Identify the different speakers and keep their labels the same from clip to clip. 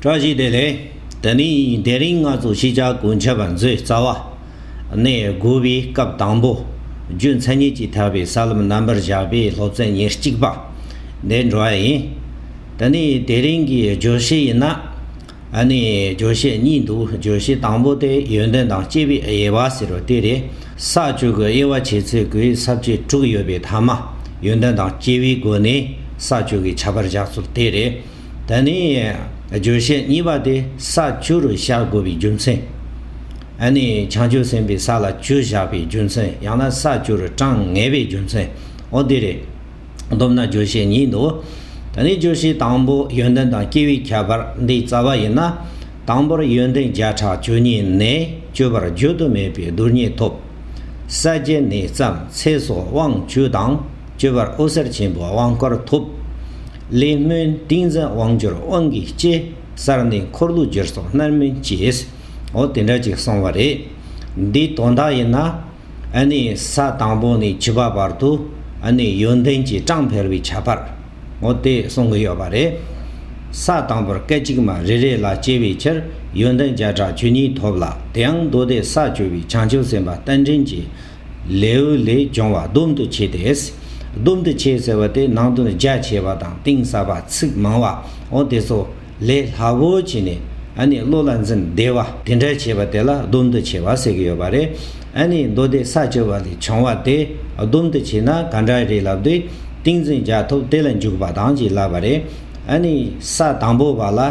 Speaker 1: བཀྲ་ཤིས་བདེ་ལེགས། དེ་ནི་དེ་རིང་ང་ཚོ་ཤེས་བྱ་གོན་འཆར་བ་མཛོད་རྩ་བ་ནས་དགོས་པའི་སྐབས་དང་པོ་རྒྱུ་མཚན་ཉིད་ཀྱིས་ཐར་པའི་ས་ལམ་རྣམ་པར་བཞག་པའི་སློབ་ཚན་ཉེར་གཅིག་པ་འདི་འགྲོ་བ་ཡིན། དེ་ནི་དེ་རིང་གི་བརྗོད་གཞི་ཡིན། ཨ་ནི་བརྗོད་གཞི་གཉིས་འདུག་བརྗོད་གཞི་དང་པོ་དེ་ཡོན་ཏན་དང་སྐྱེས་པའི་དབྱེ་བ་ཟེར་བ་དེ་རེད། ས་བཅུ་གི་དབྱེ་བ་འབྱེད་ཚེ་གོས་ས་བཅུ་དྲུག་ཡོད་པའི་མཐའ་མ་ཡོན་ཏན་དང་སྐྱེས་པའི་སྒོ་ནས་ས་བཅུ་གི་ཁྱད་པར་བཞག་ཚུལ་དེ་རེད། ད་ནི་བརྗོད་བྱའི་གཉིས་པ་སྟེ་ས་བཅུ་རུ་བཞག་དགོས་པའི་རྒྱུ་མཚན། ཨ་ནི་བྱང་ཆུབ་སེམས་དཔའི་ས་ལ་བཅུ་བཞག་པའི་རྒྱུ་མཚན་ཡང་ན་ས་བཅུ་རུ་གྲངས་ངེས་པའི་རྒྱུ་མཚན་འོ་དེ་རེད། སྡོམ་ན་བརྗོད་བྱའི་གཉིས་འདུག་ད་ནི་བརྗོད་བྱའི་དང་པོ་ཡོན་ཏན་དང་སྐྱེ་བོའི་ཁྱད་པར་འདི་རྩ་བ་ཡིན་ན། དང་པོར་ཡོན་ཏན་བརྒྱ་ཕྲག་བཅུ་གཉིས་ནས་བཅུ་བར་བརྗོད་དུ་མེད་པའི་རྡུལ་སྙེད་ཐོབ། ས་བརྒྱད་ནས་བརྩམས་ཚེ་སོགས་དབང་བཅུ་དང། སྤྱོད་པར་ཨོ་གསར་ཆེན་པོ་དབང་བསྐུར་ཐོབ། བླའི་སྨོན་ཏིང་འཛིན་དབང་སྦྱོར་དབང་གིས་སྐྱེ། གསར་ནི་འཁོར་ལོ་སྦྱོར་སོགས་རྣལ་སྨིན་སྐྱེས། འོ་དེ་འདྲ་ཅིག་སོང་བ་རེད། འདིའི་དོན་དག་ཡིན་ན། ནི་ས་དང་པོ་ནས་བྱིས་པ་བར་དུ། ནི་ཡོན་ཏན་གྱི་གྲངས་འཕེལ་བའི་ཁྱད་པར། འོ་དེ་གསུང་གི་ཡོད་པ་རེད། ས་དང་པོར་སྐད་ཅིག་མ་རེ་རེ་ལ་སྐྱེ་བའི་ཕྱིར་ཡོན་ཏན་བརྒྱ་ཕྲག་བཅུ་གཉིས་ཐོབ་ལ་དེའང་མདོ་སྡེ་ས་སྤྱོད་པའི་བྱང་ཆུབ་སེམས་དཔའ་རྟེན་འབྲེལ་གྱི་ལེའུ་ལས་སྦྱོང་བ་སྡོམ་དུ་བྱས་ཏེ། སྡོམ་དུ་བྱས་ཟེར་བ་དེ་ནང་དོན་རྒྱ་ཆེ་བ་དང་གཏིང་ཟབ་པ་ཚིག་མང་བ་འོ་དེ་ཚོ་ལས་སླ་བོ་བྱས་ནས་ཨ་ནི་བློ་ལ་འཛིན་བདེ་བ་དེ་འདྲ་བྱས་པ་དེ་ལ་སྡོམ་དུ་བྱས་བ་ཟེར་གྱི་ཡོད་པ་རེད། ཨ་ནི་མདོ་སྡེ་ས་བཅུ་བ་ལས་བྱུང་བ་དེ་སྡོམ་དུ་བྱས་ན་ག་འདྲ་རེད་ལབ་དུས་ཏིང་འཛིན་རྒྱ་ཐོབ་དེ་ལ་འཇུག་པ་དང་གཅིག་ལབ་པ་རེད། ཨ་ནི་ས་དང་པོ་བ་ལ།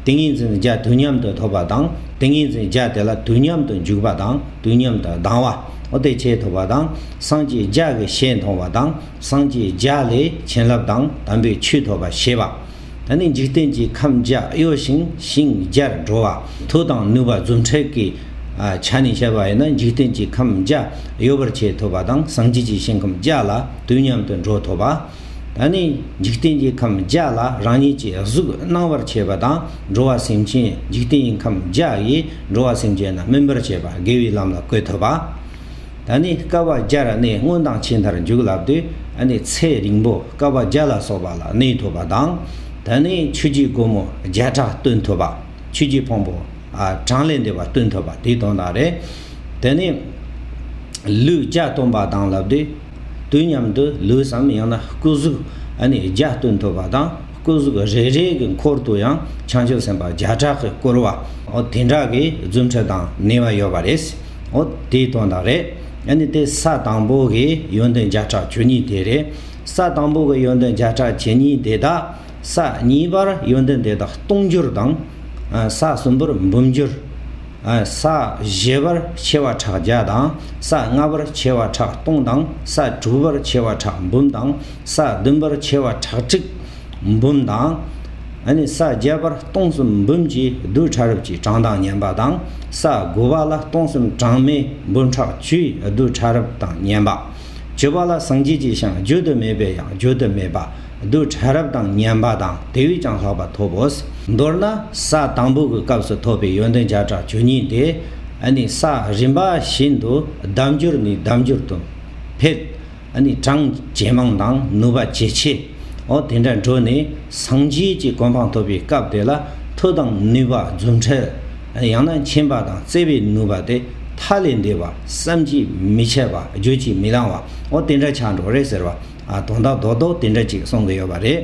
Speaker 1: ཏིང་ངེ་འཛིན་བརྒྱ་དུས་མཉམ་དུ་ཐོབ་པ་དང་ཏིང་ངེ་འཛིན་བརྒྱ་དེ་ལ་དུས་མཉམ་དུ་འཇུག་པ་དང་དུས་མཉམ་དུ་ལྡང་བ། ཨོ་ཏི་བྱེད་ཐུབ་པ་དང་སངས་རྒྱས་བརྒྱ་གི་ཞལ་མཐོང་བ་དང་སངས་རྒྱས་བརྒྱ་ལས་བྱིན་རླབས་དང་དམ་པའི་ཆོས་ཐོབ་པ་ཞེས་པ། ད་ནི་འཇིག་རྟེན་གྱི་ཁམས་བརྒྱ་གཡོ་ཞིང་ཞིང་བརྒྱར་འགྲོ་བ་མཐུ་དང་ནུས་པ་རྫུ་འཕྲུལ་གྱི་ཆ་ནས་བཤད་པ་ཡིན་ན་འཇིག་རྟེན་གྱི་ཁམས་བརྒྱ་གཡོ་བར་བྱེད་ཐུབ་པ་དང་སངས་རྒྱས་ཀྱི་ཞིང་ཁམས་བརྒྱ་ལ་དུས་མཉམ་དུ་འགྲོ་ཐུབ་པ། ད་ནི་འཇིག་རྟེན་གྱི་ཁམས་བརྒྱ་ལ་རང་ཉིད་ཀྱི་གཟུགས་སྣང་བར་བྱེད་པ་དང་འགྲོ་བ་སེམས་ཅན་འཇིག་རྟེན་གྱི་ཁམས་བརྒྱ་ཡིས་འགྲོ་བ་སེམས་ཅན་རྣམས་སྨིན་པར་བྱེད་པ་དགེ་བའི་ལམ་ལ་བཀོད་ཐུབ་པ། ད་ནི་སྐལ་བ་བརྒྱར་གནས་སྔོན་དང་ཕྱིས་མཐར་འཇུག་ལབ་དུས་ད་ནི་ཚེ་རིང་པོ་སྐལ་བ་བརྒྱ་ལ་སོགས་པ་ལ་གནས་ཐུབ་པ་དང། ད་ནི་ཆོས་ཀྱི་སྒོ་མོ་བརྒྱ་ཕྲག་སྟོན་ཐུབ་པ། ཆོས་ཀྱི་ཕུང་པོ་གྲངས་ལས་འདས་པ་སྟོན་ཐུབ་པ་དེའི་དོན་དག་རེད། ད་ནི་ལུས་བརྒྱ་སྟོན་པ་དང་ལབ་དུས། དུས་མཉམ་དུ་ལུས་སམ་ཡང་ན་སྐུ་གཟུགས་ནི་བརྒྱ་སྟོན་ཐུབ་པ་དང་སྐུ་གཟུགས་རེ་རེའི་གི་འཁོར་དུ་ཡང་བྱང་ཆུབ་སེམས་དཔའ་བརྒྱ་ཕྲག་གིས་བསྐོར་བ་འོ་དེ་འདྲ་གི་རྫུ་འཕྲུལ་དང་ནུས་བ་ཡོད་པ་རེད། འོ་དེའི་དོན་དག་རེད། ནི་དེ་ས་དང་པོ་གི་ཡོན་ཏན་བརྒྱ་ཕྲག་བཅུ་གཉིས་དེ་རེད། ས་དང་པོ་གི་ཡོན་ཏན་བརྒྱ་ཕྲག་བཅུ་གཉིས་དེ་དག་ས་གཉིས་པར་ཡོན་ཏན་དེ་དག་སྟོང་འགྱུར་དང། ས་གསུམ་པར་འབུམ་འགྱུར། ས་བཞི་པར་ཕྱེ་བ་ཕྲག་བརྒྱ་དང། ས་ལྔ་པར་ཕྱེ་བ་ཕྲག་སྟོང་དང། ས་དྲུག་པར་ཕྱེ་བ་ཕྲག་འབུམ་དང། ས་བདུན་པར་ཕྱེ་བ་ཕྲག་ཁྲིག་འབུམ་དང། ས་བརྒྱད་པར་སྟོང་གསུམ་འབུམ་གྱིས་རྡུལ་ཕྲ་རབ་ཀྱི་གྲངས་དང་བསྙེན་པ་དང། ས་དགུ་པ་ལ་སྟོང་གསུམ་གྲངས་མེད་འབུམ་ཕྲག་བཅུའི་རྡུལ་ཕྲ་རབ་དང་བསྙེན་པ། བཅུ་པ་ལ་སངས་རྒྱས་ཀྱི་ཞིང་བརྗོད་དུ་མེད་པའི་ཡང་བརྗོད་དུ་མེད་པ། རྡུལ་ཕྲན་རབ་དང་མཉེན་པ་དང་དེ་བས་ཀྱང་ལྷག་པ་ཐོབ་བོ། མདོར་ན་ས་དང་པོ་གི་སྐབས་སུ་ཐོབ་པའི་ཡོན་ཏན་བརྒྱ་ཕྲག་བཅུ་གཉིས་ཏེ། ནི་ས་རིམ་པ་བཞིན་དུ་ལྡབ་འགྱུར་ནས་ལྡབ་འགྱུར་དུ་འཕེལ། ནི་གྲངས་ཇེ་མང་དང་ནུས་པ་ཇེ་ཆེ། འོ་དེ་འདྲ་འགྲོ་ནས་སངས་རྒྱས་ཀྱི་གོ་འཕང་ཐོབ་པའི་སྐབས་དེ་ལ་མཐུ་དང་ནུས་པ་རྫུ་འཕྲུལ་ཡང་ན་མཁྱེན་པ་དང་བརྩེ་བས་ནུབ་པ་སྟེ་མཐའ་ལས་འདས་པ་བསམ་གྱིས་མི་ཁྱབ་པ་བརྗོད་ཀྱིས་མི་ལང་བ་འོ་དེ་འདྲ་ཆགས་འགྲོ་རེད་ཟེར་བ་དོན་དག་རྡོག་རྡོག་དེ་འདྲ་ཅིག་གསུང་གི་ཡོད་པ་རེད།